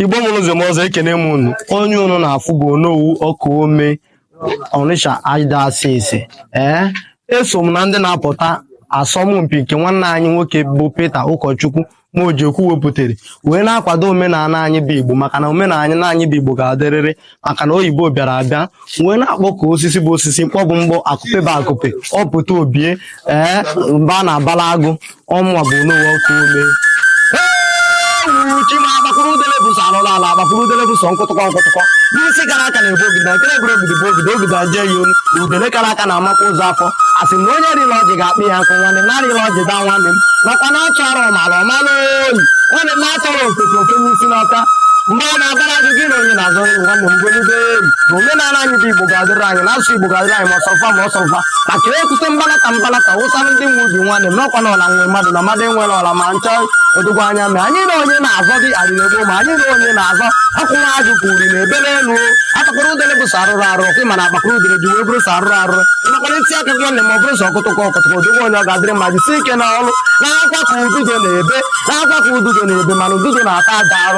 igbo mụrụ ụzọ m ọzọ ekene m unu onye unu na-afụ bụ onowu ọkaome ọnịsha ada asị asị ee eso m na ndị na-apụta asọmpi nke nwanne anyị nwoke bụ Peter ụkọchukwu Mojekwu wepụtara wee na-akwado omenala anyị bụ igbo maka na omenala anyị bụ igbo ga-adịrịrị maka na oyibo bịara abịa wee na-akpọ ka osisi bụ osisi mkpọ bụ mkpọ akupe bụ akupe ọpụta obie ee mba na-abala agụ ọmụwa bụ onowu ọkaome chima agbakwuru udele bụ sọ arụrụ ala agbakwuru udele bụ sọ nkụtụkọ nkụtụkọ n'isi kara aka na-ebu ogidi na nkere eburu ogidi bụ ogidi ogidi aje ya olu udele kara aka na-amakwa ụzọ afọ a sị na onye rịa elu ọjị ga-akpa ya nkụ nwanne m na-arị elu ọjị daa nwanne m makwa na a tụọrọ ọmara ọ mara oyi nwanne m na a tụọrọ ofeke o fenye isi n'ọhịa ọ na-abara gị gị na onye na-azọ nri nwanne m golibe eri na omenala anyị bụ igbo ga-adịrị anyị na asụsụ igbo ga-adịrị anyị ma ọ sọ fa ma ọ sọrọ fa maka ekwute mbalata mbalata wụsara ndị nwe ubi nwanne m n'ọkwa na ọla nwe mmadụ na mmadụ enwere ọla ma nchọ odogwu anya mee anyị na onye na-azọ dị adịrị egbo ma anyị na onye na-azọ akwụwa ajụ ka uri na ebere elu akpakọrọ udele bụ sọ arụrụ arụ ọkụ ma na akpakọrọ udele ji wee bụrụ sọ arụrụ arụ nakwana ntị aka gị nwanne ma ọ bụrụ sọ ọkụtụkọ ọkụtụkọ odogwu onye ọ ga-adịrị mma jisi ike na ọrụ na-akwa ka ududo na-ebe na-akwa ka ududo na-ebe mana ududo na-ata aja arụ